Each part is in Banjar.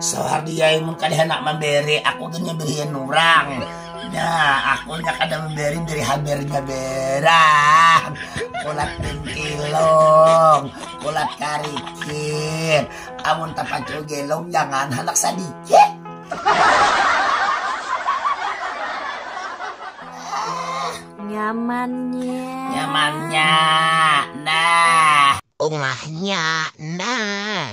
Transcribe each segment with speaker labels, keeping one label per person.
Speaker 1: Suhardi ai mun kada handak mamberi aku gin berian urang. Nah, aku nya kada memberi beri habernya berang. Kulat pintilong, kulat karikir. Amun tapacul gelong jangan handak sadikit.
Speaker 2: Nyamannya. Nyamannya.
Speaker 1: Nah. Umahnya.
Speaker 3: Nah.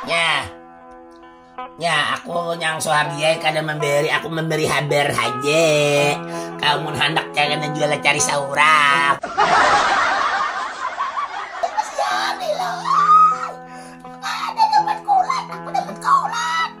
Speaker 3: Nyah,
Speaker 1: nyah aku nyang Suhardi ai kada mamberi, aku mamberi habar haja. Kau mun handak jangan jua lah cari saurak. Kasian Ilham, kada dapat kuran, aku dapat kauran.